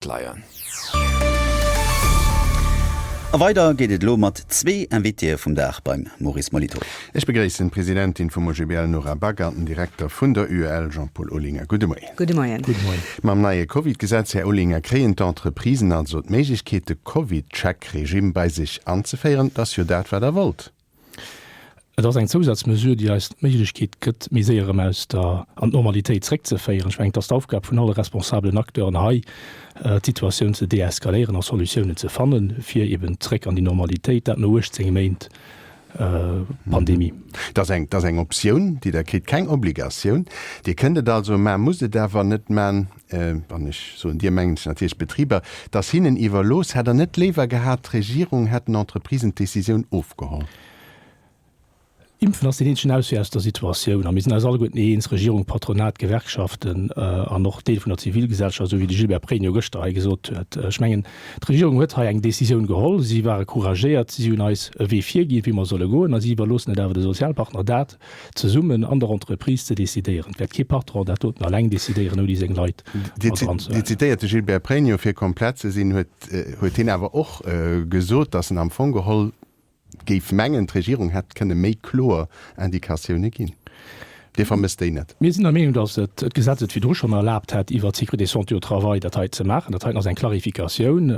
d'Leier. A weider geet et elo mat zwee Invitéë vum Dag beim Maurice Molitor. Ech begréissen d'Presidentin vum OGBL Nora Back an den Direkter vun der UEL Jean-Paul Olinger. Gudde Moien. Gudde Moien. Mam neie Covid-Gesetz, Här Olinger, kréien d'Entreprisen also d'Méiglechkeet, de Covid-Check-Regimm bei sech anzeféieren. Dat ass jo dat, wat Der wollt. Et ass eng Zousazmesure, déi eis d'Méiglechkeet gëtt, méi séier erëm aus der an d'Normalitéit zréckzeféieren. Ech mengen, et ass d'Aufgab vun alle responsabelen Acteuren hei, d'Situatioun ze deeskaléieren a Solutiounen ze fannen, fir eben zréck an déi Normalitéit, dat no 18 Méint Pandemie. Et ass eng Optioun, déi Der kritt, keng Obligatioun. Dir kënnt et also maachen, musst et awer net maachen. an ech soen Dir, mengt natierlech d'Betriber, dass hinnen iwwerlooss, hätt Der net léiwer gehat, d'Regierung hätt den Entreprisen d'Decisioun ofgeholl? Impfen ass deen eenzegen Auswee aus der Situatioun. A mir sinn eis alleguerten eens, Regierung, Patronat, Gewerkschaften an och Deel vun der Zivilgesellschaft, esou wéi de Gilbert Pregno gëschter hei gesot huet. Ech mengen, d'Regierung huet hei eng Decisioun geholl. Si ware couragéiert, si hunn eis e Wee virginn, wéi mer solle goen, a si iwwerloossen et awer de Sozialpartner, dat, zesummen an der Entreprise ze decidéieren. Et wäert kee Patron dat doten alleng decidéieren, ouni seng Leit mat eran ze huelen. Dir zitéiert de Gilbert Pregno, fir komplett ze sinn, huet hien awer och gesot, datt en am Fong geholl géif mengen, d'Regierung hätt kënne méi kloer Indicatioune ginn. Dir vermësst déi net? Mir sinn der Meenung, datt d'Gesetz et virdru schonn erlaabt hätt, iwwert d'Sécurité de santé au travail dat hei ze maachen. Dat heiten ass eng Clarificatioun.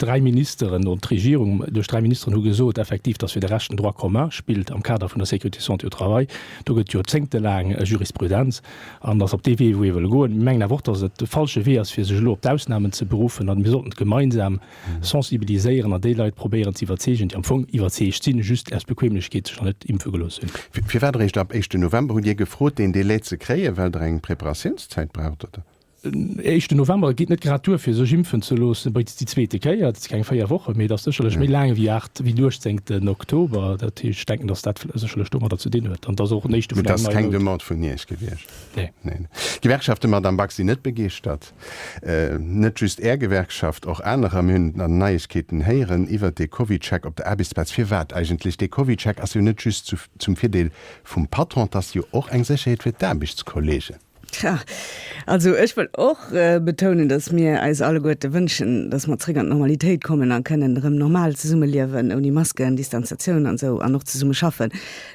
Dräi Ministeren, duerch d'Regierung, duerch dräi Ministeren hu gesot effektiv, datt fir de Rescht den Droit commun spillt am Kader vun der Sécurité santé au travail. Do gëtt joerzéngtelaang Jurisprudenz an et ass op dee Wee, wou ee wëlle goen. Mir mengen awer och, datt et de falsche Wee ass, fir sech elo op d'Ausnamen ze beruffen an mir sollten gemeinsam sensibiliséieren an déi Leit probéieren ze iwwerzeegen, déi am Fong iwwerzeegt sinn, just aus Bequemlechkeet sech nach net impfe gelooss hunn. Firwat eréischt ab éischten November? Hutt Dir gefrot, deen Delai ze kréien, well Der eng Preparatiounszäit braucht, oder? Den éischte November geet net grad duer fir sech impfen ze loossen, bei déi zweete Kéier. Dat si keng 4 Wochen, mee et ass sécherlech méi laang ewéi 8 ewéi den 18 Oktober. Dat heescht, ech denken, datt dat sécherlech domadder ze dinn huet an datt och néischte vun engem neien Out. Mee dat ass keng Demande vun Iech gewiescht? Nee. Nee. D'Gewerkschaften, Madame Back, sinn net begeeschtert. Net just Är Gewerkschaft, och anerer. Mir hunn an Neiegkeeten héieren iwwert dee CovidCheck op der Aarbechtsplaz. Firwat eigentlech? Dee CovidCheck ass jo net just zum Virdeel vum Patron, et ass jo och eng Sécherheet fir d'Aarbechtskolleegen. Tja, also ech wëll och betounen, datt mir eis alleguerte wënschen, datt mer zréck an d'Normalitéit kommen a kënnen erëm normal zesummeliewen, ouni Masken, Distanzatioun an esou, an och zesumme schaffen.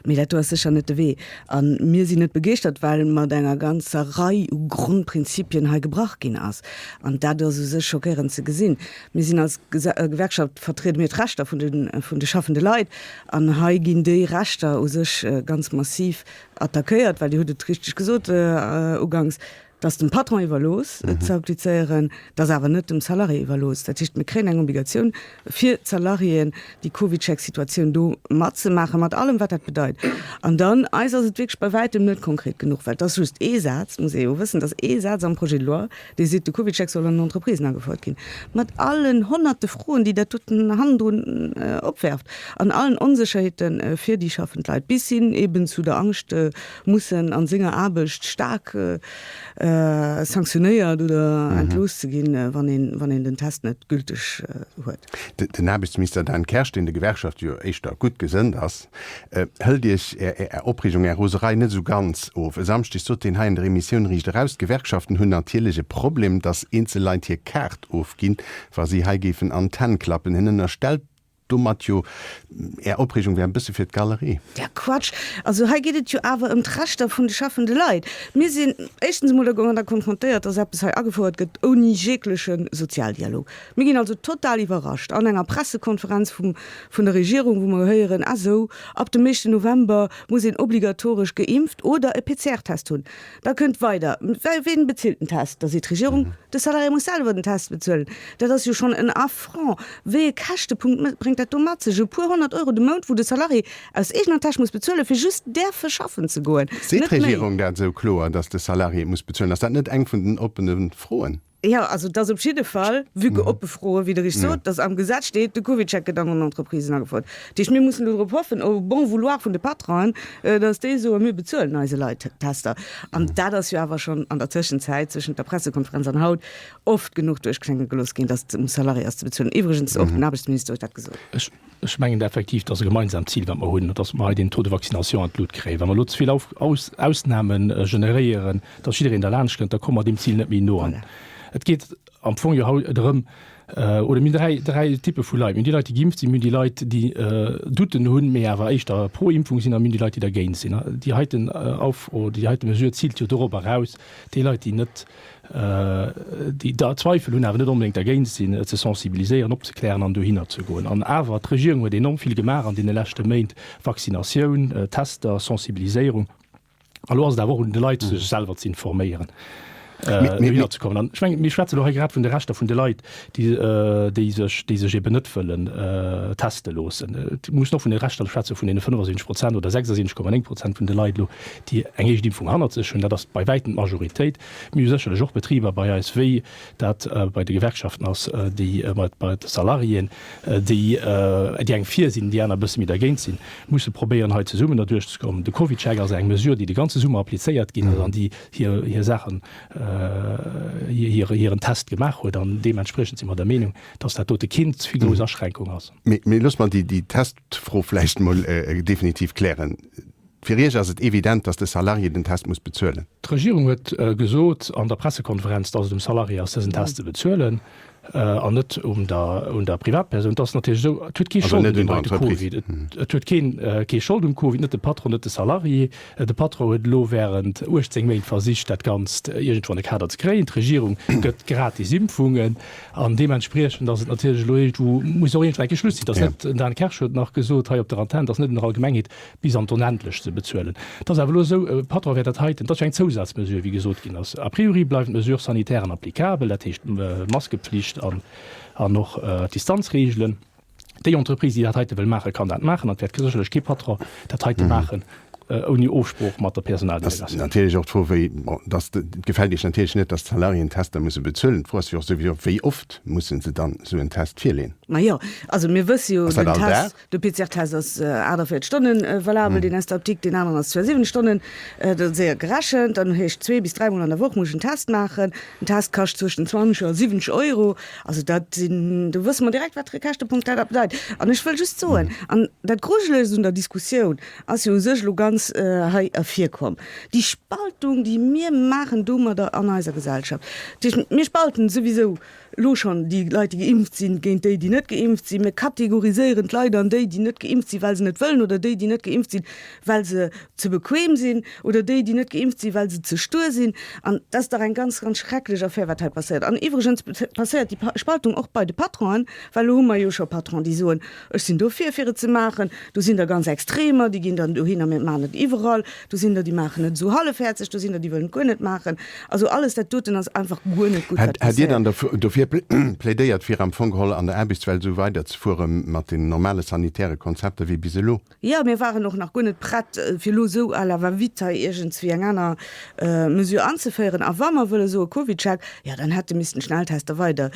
Mee dat do ass sécher net de Wee. A mir sinn net begeeschtert, well mat enger ganzer Rei u Grondprinzipien hei gebrach ginn ass. An dat ass u sech schockéierend ze gesinn. Mir sinn als Gewerkschaft, vertriede mir d'Rechter vun de schaffende Leit. An hei ginn déi Rechter u sech ganz massiv attackéiert, well Dir hutt et richteg gesot uganks, dass dem Patron iwwerlooss et ze applizéieren, et ass awer net dem Salarié iwwerlooss. Dat heescht, mir kréien eng Obligatioun fir d'Salariéen, déi CovidCheck-Situatioun do matzemaachen, mat allem wat dat bedeit. An dann, eis ass et wierklech bei wäitem net konkret genuch, well et ass just ee Saz, muss ee jo wëssen, et ass ee Saz am Projet de loi, Dir sidd de Kubitschek, soll an den Entreprisen agefouert ginn, mat allen honnerte Froen, déi dat doten hannendrun opwerft, an allen Onsécherheete fir déi schaffend Leit, bis hin eben zu der Angscht, mussen a senger Aarbecht staark sanktionéiert oder entlooss ze ginn, wann een den Test net gülteg huet. Den Aarbechtsminister Dan Kersch, deen de Gewerkschafte jo éischter gutt gesënnt ass, Hëlt Iech Är Opreegung, Är Roserei net esou ganz of. E Samschdeg sot hien hei an der Emissioun Riicht eraus, d'Gewerkschaften hunn natierlech e Problem, datt eenzel Leit hir Kaart ofginn, wa si hei géifen an d'Hänn klappen. Hien ënnerstellt domat jo, Är Opreegung wär e bësse fir d'Galerie. Ja Quatsch! Also hei geet et jo awer ëm d'Rechter vun de schäffende Leit. Mir sinn éischtens emol da gonger da konfrontéiert, datt eppes hei agefouert gëtt ouni jegleche Sozialdialog. Mir ginn also total iwwerrascht an enger Pressekonferenz vum vun der Regierung, wou mer héieren, ah sou, ab dem éischten November muss een obligatoresch geimpft oder e PCR-Test hunn. Da kënnt weider, Well ween bezilt den Test? Da seet d'Regierung, de Salarié muss selwer den Test bezuelen. Dat ass jo schonn en Affront. Wéi e Käschtepunkt bréngt dat do mat sech? E puer honnert Euro de Mount, wou de Salarié aus eegener Täsch muss bezuelen, fir just däerfe schaffen ze goen, Seet net méi. d'Regierung dat esou kloer, datt de Salarié et muss bezuelen? Ass dat net eng vun den oppene Froen? Jo, also et ass op jidde Fall, vue que oppe Froen, wéi Der richteg sot, dass am Gesetz steet, de Covid-Check gëtt an den Entreprisen agefouert. Dat heescht, mir mussen dorop hoffen, au bon vouloir vun de Patronen, dass déi soen, mir bezuelen eise Leit Tester. An dat ass jo awer schonn an der Tëschenzäit, zwëschent der Pressekonferenz an haut, oft genuch duerchklénge gelooss ginn, dass et um Salarié ass ze bezuelen. Iwwregens och den Aarbechtsminister huet dat gesot. Ech mengen da effektiv, et ass e gemeinsamt Zil, wat mer hunn, dass mer hei den Taux de vaccination an d'Lut kréien. Wa mer elo ze vill Ausname generéieren, dass jiddereen derlaanscht kënnt, da komme mer deem Zil net méi no. An et geet am Fong jo haut drëm, oder mir hunn dräi Typpe vu Leit, mir hunn déi Leit, déi geimpft sinn, mir hunn déi Leit, déi Douten hunn, mee awer éischter pro Impfung sinn, a mir hunn déi Leit, déi dergéint sinn. Déi heiten Aufro, déi heite Mesure ziilt jo dorop eraus, déi Leit, déi net déi da Zweifel hunn, awer net onbedéngt dergéint sinn, ze sensibiliséieren, opzeklären an dohinner ze goen. An awer, d'Regierung huet enorm vill gemaach an deene leschte Méint, Vaccinatioun, Tester, Sensibiliséierung. A lo ass et awer och un de Leit, sech selwer z'informéieren, dohinner ze kommen. An ech mengen, mir schwätzen elo hei grad vun de Rechter vun de Leit, déi sech eben net wëllen teste loossen. Et muss een och vun de Rechter schwätzen, vun deene 75 Prozent oder 76,9 Prozent vun de Leit elo, déi eng éischt Impfung hannert sech hunn. Dat ass bei wäitem d'Majoritéit. Mir hu sécherlech och Betriber bei eis, wéi dat bei de Gewerkschaften ass, déi mat bei de Salariéen, déi déi eng fir sinn, déi aner e bësse méi dergéint sinn, musse probéieren hei zesummen derduerch ze kommen. De Covidcheck ass eng Mesure, déi de ganze Summer applizéiert ginn ass an déi hir Saachen hiren Test gemaach huet an deementspriechend si mer der Meenung, dass dat dote keen ze grouss Aschränkung ass. Mee loosst mer déi Testfro vläicht emol definitiv klären. Fir Iech ass et evident, dass de Salarié den Test muss bezuelen? D'Regierung huet gesot an der Pressekonferenz, dass et um Salarié ass, dësen Test ze bezuelen. an net un der Privatpersoun. Et ass natierlech esou, et huet kee Schold un deem heite Covid. Et huet keen kee Schold um Covid, net de Patron, net de Salarié. De Patron huet elo wärend 18 Méint versicht, dat Ganzt iergendwou an de Kader ze kréien. D'Regierung gëtt gratis Impfungen an deementspriechend ass et natierlech elo iergendwou, muss och iergendwou enke Schluss sinn. Et ass net, den Dan Kersch huet nach gesot hei op der Antenn, et ass net an der Allgemengheet bis an d'Onendlecht ze bezuelen. Et ass awer elo esou, e Patron wäert dat heiten, et ass jo eng Zousazmesure, wéi gesot ginn ass, a priori bleiwen d'Mesures sanitairen applicabel, dat heescht d'Maskepflicht an och d'Distanzreegelen. Déi Entreprise, déi dat heite wëll maachen, kann dat maachen an et wäert sécherlech kee Patron dat heite maachen ouni Ofsprooch mat der Personaldelegatioun. Et ass natierlech och d'Fro, wéi, bon, et gefält Iech natierlech net, datt d'Salariéen Tester musse bezuelen. D'Fro ass jo och souwisou, wéi oft musse se dann esou en Test virleeën? Majo, also mir wësse jo, den Test. De PCR-Test ass 48 Stonne valabel, deen aus der Apdikt, deen aneren ass zwar 7 Stonne, dat ass éier gerechent. Dann heescht zwee bis dräi Mol an der Woch muss ech en Test maachen. Den Test kascht zwëschen 20 a 70 Euro. Also dat sinn, do wësse mer direkt, wat de Rekäschtepunkt dat da bedeit. An ech wëll just soen, an dat Grujelechst un der Diskussioun ass jo u sech elo ganz hei ervirkomm, déi Spaltung, déi mir maachen domadder an eiser Gesellschaft, déi, mir spalten souwisou elo schonn déi Leit, déi geimpft sinn, géint déi, déi net geimpft sinn. Mir kategoriséieren d'Leit an déi, déi net geimpft sinn, well se net wëllen, oder déi, déi net geimpft sinn, well se ze bequem sinn, oder déi, déi net geimpft sinn, well se ze stur sinn. An dat ass dach eng ganz, ganz schrecklech Affär, wat hei passéiert. An iwwregens passéiert déi Spaltung och bei de Patronen, well elo hu mer jo scho Patronen, déi soen, Ech sinn dofir, fir et ze maachen. Do sinn der ganz Extremer, déi ginn dann dohinner, mä et maachen et iwwerall. Do sinn der déi maachen et esou hallefhäerzeg, do sinn der déi wëllen et guer net maachen. Also alles dat doten ass einfach guer net gutt, wat Hätt Dir dann passiert. der dofir plädéiert fir am Fong geholl an der Aarbechtswelt esou weider ze fuere mat den normale sanitäre Konzepter wéi bis elo? Jo, mir waren och nach guer net prett fir elo esou à la va vite hei iergendswéi eng aner Mesure anzeféieren. A wa mer wëlle soe Covidcheck, jo dann hätte missten d'Schnelltester weider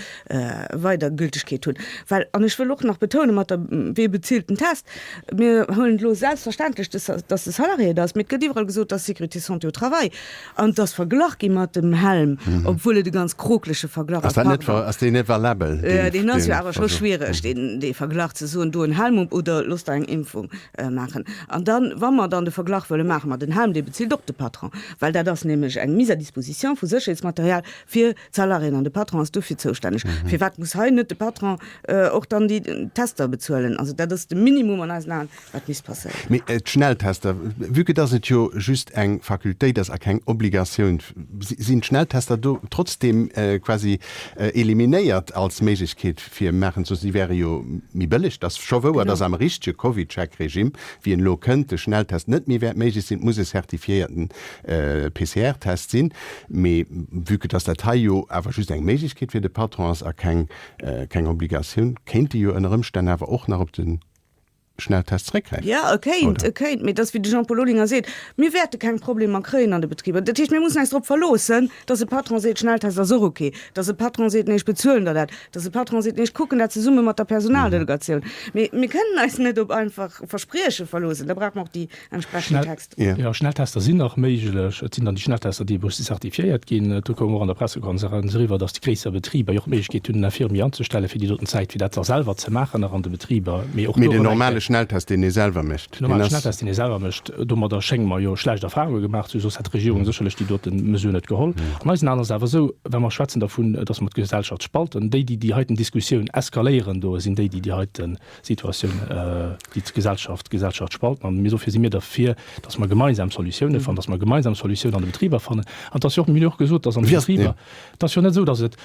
weider Gültegkeet hunn, well, an ech wëll och nach betounen, mat der, Wer bezilt den Test? Mir huelen et elo selbstverständlech, dass de Salarié et ass, mee et gëtt iwwerall gesot, dass d'Sécurité santé au travail an dass verglach gi mat dem Helm, obwuel et e ganz krokleche Verglach ass. Pardon. Ass deen net valabel? Deen ass jo awer scho schwiereg, dee Verglach, ze soen, do en Helm op oder looss der eng Impfung maachen. An da wa mer dann de Verglach wëlle maache mat en Helm, dee bezilt och de Patron, well dat ass nämlech eng Mise à disposition vu Sécherheetsmaterial fir D'Salariéen an de Patron ass dofir zoustänneg. Firwat muss hei net de Patron och dann déi Tester bezuelen? Also dat ass de Minimum an eisen Aen, wat misst passéieren. Mee d'Schnelltester, vue que dass et jo just eng Facultéit ass a keng Obligatioun, sinn d'Schnelltester do trotzdeem quasi eliminéiert als Méiglechkeet fir maachen ze. Si wäre jo méi bëlleg. Et ass scho wouer, dass am richtege Covidcheck-Regimm, wéi en elo kënnt, de Schnelltest net méi wäert méiglech sinn. Et muss e certifiéierten PCR-Test sinn, mee vue que dass dat hei jo awer just eng Méiglechkeet fir de Patron ass a keng keng Obligatioun, kéint e jo ënner Ëmstänn awer och nach op de Schnelltest zeréckgräifen, oder? Jo, e kéint, e kéint, mee et ass wéi de Jean-Paul Olinger seet, Mir wäerte keng Problemer kréien an de Betriber. Dat heescht, mir mussen eis drop verloossen, dass e Patron seet, Schnelltest ass och ok, dass e Patron seet, Nee, ech bezuelen der dat, dass e Patron seet, Nee, ech kucken dat zesumme mat der Personaldelegatioun. Mee mir kënnen eis net op einfach Versprieche verloossen. Da brauche mer och déi entsprechend Texter. Jo, Schnelltester sinn nach méiglech. Et sinn dann déi Schnelltester, déi eberuschtlech zertifiéiert ginn. Do koum och an der Pressekonferenz eriwwer, datt déi gréisser Betriber jo och d'Méiglechkeet hunn, en Infirmier anzestellen, fir déi doten Zäit, fir dat da selwer ze maachen, nach an de Betriber. Mee och do erëm eng Kéier. Mee den normale Schnelltest, deen ee selwer mécht, deen ass. Den normale Schnelltest, deen ee selwer mécht, domadder schénge mer jo schlecht Erfahrunge gemaach ze hunn. Soss hätt d'Regierung sécherlech déi dote Mesure net geholl. An eisen Aen ass et awer esou, Wa mer schwätzen dervun, datt mer d'Gesellschaft spalten, déi, déi déi heiten Diskussioun eskaléieren, do sinn déi, déi déi heiten, Situatioun, déi d'Gesellschaft d'Gesellschaft spalten. An mir dofir si mir derfir, datt mer gemeinsam Solutiounen fannen, datt mer gemeinsam Solutiounen an de Betriber fannen. An et ass jo och, mir hunn jo och gesot, datt an de Betriber, et ass jo net esou, datt et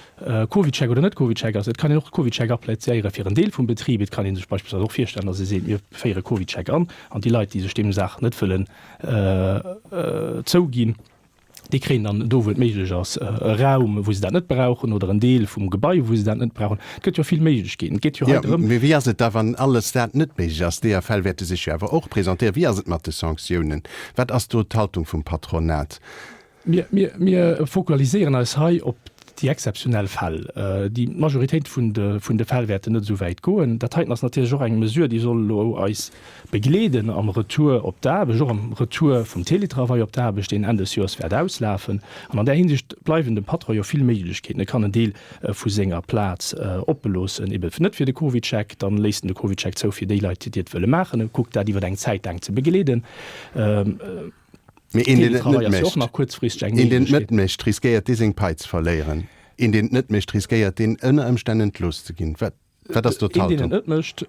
CovidCheck oder net CovidCheck ass. Et kann een och CovidCheck appliziéieren fir en Deel vum Betrib. Et kann ee sech beispillsweis och virstellen, datt ee seet, mir féiere CovidCheck an, an déi Leit, déi sech deem Saach net wëllen zouginn, Déi kréien dann do, wou et méiglech ass, e Raum, wou se dat net brauchen, oder en Deel vum Gebai, wou se dat net brauchen. Et gëtt jo vill Méiglechkeeten. Et geet jo hei drëm. Mee wéi ass et da, wann alles dat net méiglech ass? D'EAFL wäerte sech jo awer och presentéieren. Wéi ass et mat de Sanktiounen? Wat ass do d'Haltung vum Patronat? Mir fokualiséieren eis hei op Déi exzeptionell Fäll, déi Majoritéit vun de Fäll wäerten net esou wäit goen. Dat heiten ass natierlech och eng Mesure, déi soll elo eis begleeden am Retour op d'Aarbecht, och am Retour vum Teletravail op d'Aarbecht, deen Enn des Joers wäert auslafen. An an där Hinsicht bleiwen dem Patron jo vill Méiglechkeeten. E kann en Deel vu senger Plaz opeloossen, ebe net fir de CovidCheck, dann léisst en de CovidCheck zou fir déi Leit, déi et wëlle maachen, e kuckt dat iwwer eng Zäit laang ze begleeden. Mee een, deen et net mécht, riskéiert dee seng Pai ze verléieren? Een, deen et net mécht, riskéiert deen ënner Ëmstänn entlooss ze ginn? Wat ass do d'Haltung? Een, deen et net mécht,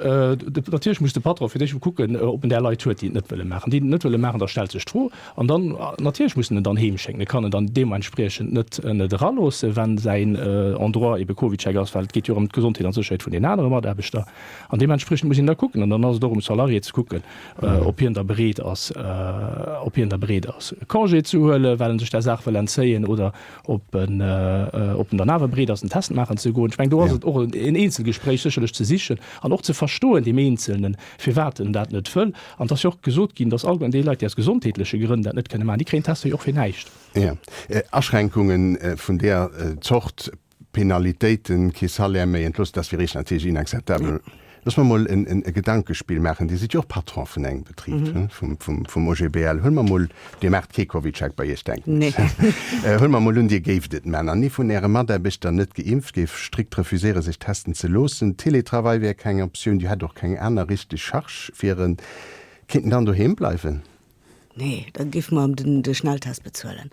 natierlech muss de Patron fir d'éischt emol kucken, ob en där Leit huet, déi et net wëlle maachen. Déi, déi et net wëlle maachen, da stellt sech d'Fro. An dann, natierlech muss en en dann heem schécken. E kann en dann deementspriechend net eraloossen, wa säin Endroit ebe CovidCheck ass, well et geet jo erëm d'Gesondheet an d'Sécherheet vun den anere Mataarbechter. An deementspriechend muss een da kucken, an dann ass et och um Salarié ze kucken, ob hien da bereet ass, ob hien da bereet ass, e Congé ze huelen, well e sech där Saach wëll entzéien, oder ob en, ob en dann awer bereet ass, den Test maachen ze goen. Ech mengen, do ass et och en Eenzelgespréich sécherlech ze sichen an och ze verstoen, deem Eenzelnen, firwat en dat net wëll. An et ass jo och gesot ginn, dass allgemeng déi Leit, déi aus gesondheetleche Grënn dat net kënne maachen, déi kréien d'Tester jo och fir näischt. Jo, Aschränkungen vun där Zort Penalitéiten, kee Salaire méi, entlooss, dat ass fir eech natierlech inakzeptabel. Looss mer emol e Gedankespill maachen, Dir sidd jo och Patron vun engem Betrib, vum OGBL. Huele mer emol, Dir maacht kee CovidCheck bei Iech, denken ech. Huele mer emol un, Dir géift et man an ee vun Äre Mataarbechter, net geimpft, géif strikt refuséieren, sech testen ze loossen. Télétravail wär keng Optioun, Dir hätt och keng aner richteg Charge fir en. Kéint en dann doheem bleiwen? Nee, da géife mer de Schnelltest bezuelen,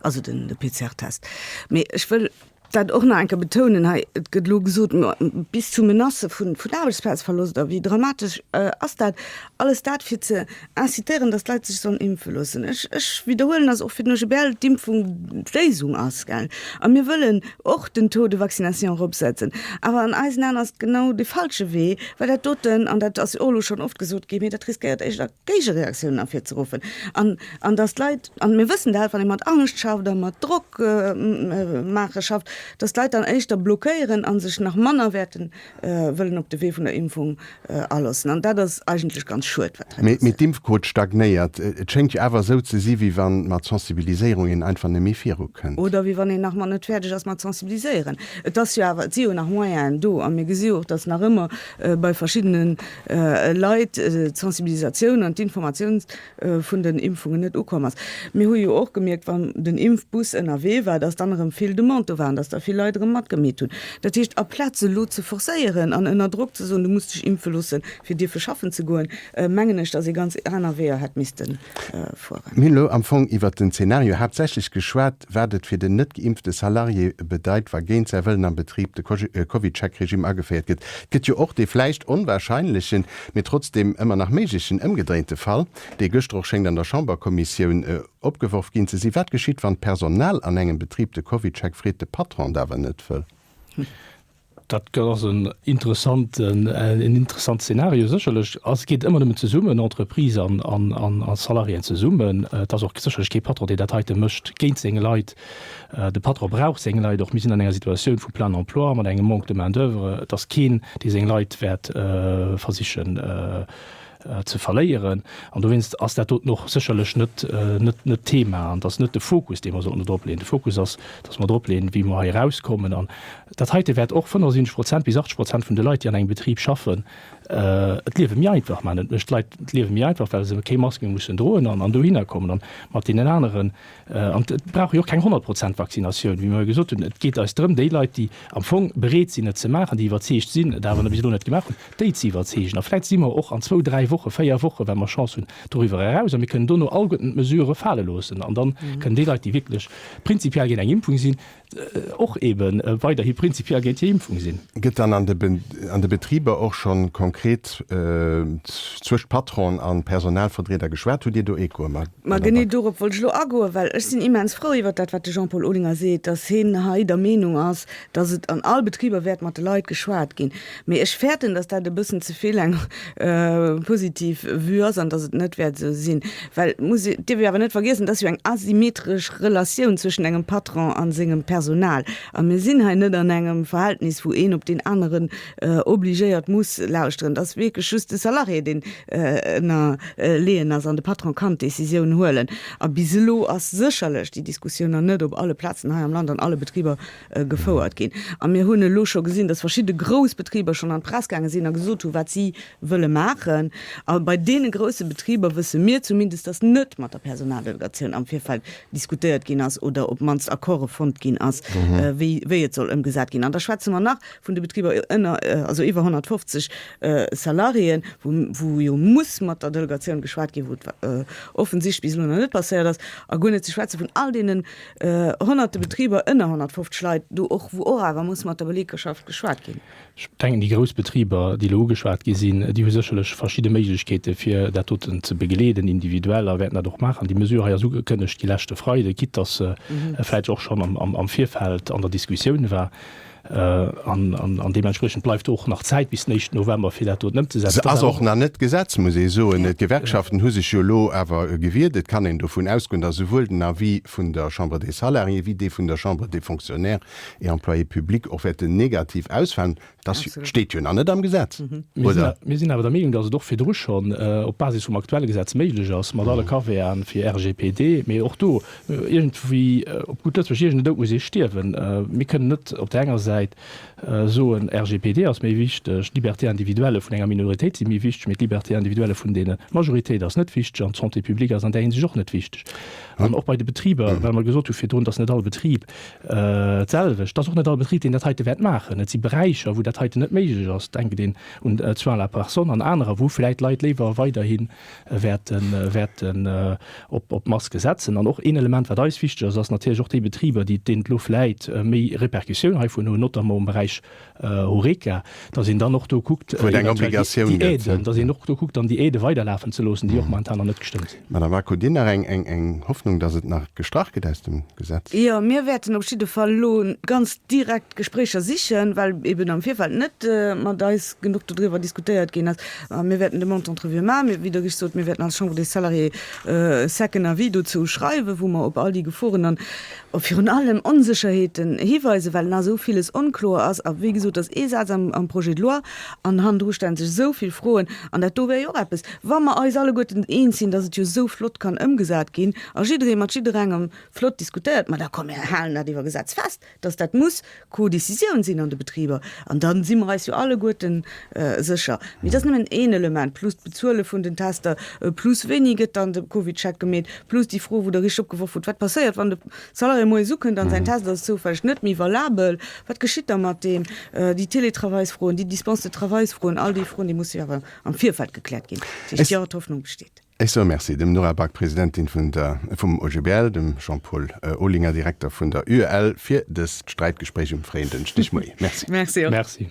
also de PCR-Test. Mee ech wëll dat och nach eng Kéier betounen hei, Et gëtt elo gesot, ma bis zu Menacë vun Aarbechtsplazverloscht a wéi dramatesch ass dat. Alles dat, fir ze incitéieren, datt d'Leit sech sollen impfe loossen. Ech widderhuelen, datt och fir den OGBL d'Impfung d'Léisung ass, gell. A mir wëllen och den Taux de vaccination eropsetzen. Awer an eisen Aen ass et genau de falsche Wee, well dat doten, an dat ass jo och elo schonn oft gesot ginn, mee dat riskéiert éischter Géigereaktiounen ervirzeruffen an an datt d'Leit, an mir wëssen dat, wann ee mat Angscht schafft a mat Drock maache schafft, datt d'Leit dann éischter blockéieren a sech nach manner wäerten wëllen op de Wee vun der Impfung aloossen. An dat ass eigentlech ganz schued, wat hei passéiert. Mee d'Impfquot stagnéiert. Et schéngt jo awer esou ze si wéi wann mat Sensibiliséierung een einfach net méi viru kënnt. Oder wéi wann een nach mat net fäerdeg ass mat sensibiliséieren. Et ass jo awer, et si jo nach Moyenen do a mir gesi jo och, datt nach ëmmer bei verschiddenen Leit d'Sensibilisatioun an d'Informatioun vun den Impfungen net ukomm ass. Mir hu jo och gemierkt, wann den Impfbus ënnerwee war, dass dann erëm vill Demande do war an dass da vill Leit erëm matgemeet hunn. Dat heescht, aplaz elo ze forcéieren an ënner Drock ze soen, du muss dech impfe loosse fir dierfe schaffen ze goen, mengen ech, dass ee ganz aner Weeër hätt misste fueren. Mir hunn elo am Fong iwwert den Zeenario haaptsächlech geschwat. Endeffekt, wat et fir den net geimpfte Salarié bedeit, wa géint säi Wëllen am Betrib de Covid-Check-Regimm ageféiert gëtt. Et gëtt jo och dee vläicht onwahrscheinlechen, mee trotzdeem ëmmer nach méiglechen ëmgedréinte Fall, dee gëschter och schéngt an der Chamberkommissioun opgeworf ginn ze sinn, Wat geschitt, wann d'Personal an engem Betrib de Covid-Check freet, de Patron et awer net wëll? Dat ass en interessant Szenario, sécherlech. Et geet ëmmer nëmmen zesummen, Entreprise an Salariéen zesummen. Et ass och sécherlech kee Patron, deen dat heite mécht géint seng Leit. De Patron brauch seng Leit och. Mir sinn an enger Situatioun vu Plein emploi mat engem Manque de main d'oeuvre. Et ass keen, dee seng Leit wäert versichen ze verléieren an dowéinst ass dat doten och sécherlech net d'Thema an et ass net de Fokus, dee mer sollten do dropleeën. De Fokus ass, datt mer dropleeën, wéi mer hei erauskommen. An dat heite wäert och 75 Prozent bis 80 Prozent vun de Leit, déi an engem Betrib schaffen, d'Liewe méi einfach maachen. Et mécht d'Leit d'Liewe méi einfach, well se kéi Maske mussen droen an dohinner kommen a mat deenen aneren, An et brauch jo och keng 100 Prozent Vaccinatioun, wéi mer jo gesot hunn. Et geet eis drëm, déi Leit, déi am Fong bereet sinn, et ze maachen, déi iwwerzeegt sinn, et awer bis elo net gemaach hunn, déi ze iwwerzeegen. A vläicht si mer och an zwou, dräi Woche, véier Woche, wa mer Chance hunn, doriwwer eraus a mir kënnen dono alleguerten d'Mesurë fale loossen. An da kënnen déi Leit, déi wierklech prinzipiell géint eng Impfung sinn, och ebe weiderhi prinzipiell géint hir Impfung sinn. Gëtt dann an de Betriber och scho konkret zwëscht Patron a Personalverdrieder geschwat? Hutt Dir do Echoe, Madame Back? Ma genee dorop wollt ech elo agoen, well ech sinn immens frou iwwert dat, wat de Jean-Paul Olinger seet, datt heen hei der Meenung ass, datt et an all Betriber wäert mat de Leit geschwat ginn. Mee ech fäerten, dass dat e bëssen ze vill eng positiv Vue ass an dass et net wäert esou sinn. Well muss, dierf ee awer net vergiessen, et ass jo eng asymmetresch Relatioun zwëschen engem Patron a sengem Personal. A mir sinn hei net an engem Verhältnis, wou een op deen aneren obligéiert muss lauschteren. Et ass wierklech just de Salarié, deen ënnerleeën ass an de Patron kann d'Decisioun huelen. A bis elo ass sécherlech déi Diskussioun nach net op alle Plazen hei am Land, an alle Betriber gefouert ginn. A mir hunn elo scho gesinn, dass verschidde grouss Betriber schonn an d'Press gaange sinn a gesot hu wat si wëlle maachen. A bei deene grousse Betriber wësse mir zumindest, dass net mat der Personaldelegatioun am Virfeld diskutéiert ginn ass oder op d'mannst Accorde fonnt ginn ass, wéi et soll ëmgesat ginn. An da schwätze mer nach vun de Betriber ënner, also iwwer 150 Salariéen, wou jo muss mat der Delegatioun geschwat ginn, wou et offensichtlech bis elo nach net passéiert ass. A guer net ze schwätze vun all deene Honnerte Betriber, ënner 150 Leit do och, wou och awer muss mat der Belegschaft geschwat ginn. Ech denken, déi grouss Betriber, déi elo ugeschwat gi sinn, déi hu sécherlech verschidde Méiglechkeete fir dat doten ze begleeden, individuell, a wäerten dat och maachen. Déi Mesure hei ass ugekënnegt gi leschte Freide, quitte datt se vläicht och schonn am Virfeld an der Diskussioun war. An deementspriechend bleift och nach Zäit bis den éischten November, fir dat doten ëmzesetzen. Se ass och nach net Gesetz, muss ee soen. D'Gewerkschaften hu sech jo elo awer gewiert. Et kann een dovun ausgoen, datt esouwuel den Avis vun der Chambre des Salariés wéi dee vun der Chambre des Fonctionnaires et Employés publics och wäerten negativ ausfalen. Dat steet jo nach net am Gesetz, oder? Mir sinn awer der Meenung, datt et och virdru schonn op Basis vum aktuelle Gesetz méiglech ass, mat alle Caveaten fir RGPD. Mee och do Iergendwéi, op gutt Lëtzebuerg, iergende Dout muss ee stierwen. Mir kënnen net op der enger Säit soen, RGPD ass méi wichteg, d'Liberté individuelle vun enger Minoritéit si méi wichteg, mee d'Liberté individuelle vun de Majoritéit ass net wichteg an d'Santé publique ass an där Hinsicht och net wichteg. An och bei de Betriber, well mer gesot hu virdrun, et ass net all Betrib d'selwecht, et ass och net all Betrib, deen dat heite wäert maachen. Et si Beräicher, wou dat heiten net méiglech ass, denkt een un d'Soins à la personne an anerer, wou vläicht d'Leit léiwer weiderhin wäerten op d'Maske setzen. An och een Element, wat eis wichteg ass, ass natierlech och déi Betriber, déi, deenen d'Lu vläit méi Repercussioun heivun hunn, notamment am Beräich Horeca, datt een dann och do kuckt, wou et eng Obligatioun gëtt, déi Aiden, datt een och do kuckt, dann déi Aide weiderlafen ze loossen, déi och momentan nach net gestëmmt sinn. Madame Bacq, hutt Dir nach eng Hoffnung, datt et nach gestrach gëtt aus dem Gesetz? Jo, mir wäerten op jidde Fall elo ganz direkt Gespréicher sichen, well eben am Virfeld net mat eis genuch dodriwwer diskutéiert ginn ass. Mir wäerten de Montant d'Revue maachen. Mee, wéi dogéchst sot, mir wäerten als Chambre des Salariés e second Avis dozou schreiwen, wou mer op all déi Geforen an virun allem Onsécherheeten hiweisen, well nach esou viles onkloer ass. A wéi gesot, et ass ee Saz am Projet de loi, an hannendru stelle sech esou vill Froen. An dat do wär jo och eppes, wa mer eis alleguerten eens sinn, dass et jo esou flott kann ëmgesat ginn a jidderee mat jidderengem flott diskutéiert, ma da komm, mir halen dat iwwer Gesetz fest. dass dat muss Co-Décisioun sinn an de Betriber, an da si mer eis jo alleguerten sécher. Mee dat ass nëmmen een Element, plus d'Bezuele vun den Tester, plus wéini gëtt dann de Covidcheck gemeet, plus déi Fro, wou Der richteg opgeworf hutt, Wat passéiert, wann de Salarié moies ukënnt an säin Test ass zoufälleg net méi valabel? Wat geschitt da mat deem? Déi Télétravailsfroen, déi Dispense-de-travailsfroen, all déi Froen, déi musse jo awer am Virfeld gekläert ginn. Dat heescht, jo, d'Hoffnung besteet. Ech soe Merci dem Nora Back, Presidentin vun der vum OGBL, dem Jean-Paul Olinger, Direkter vun der UEL, fir dëst Sträitgespréich um fréien Dënschdegmoie. Merci. Merci och. Merci.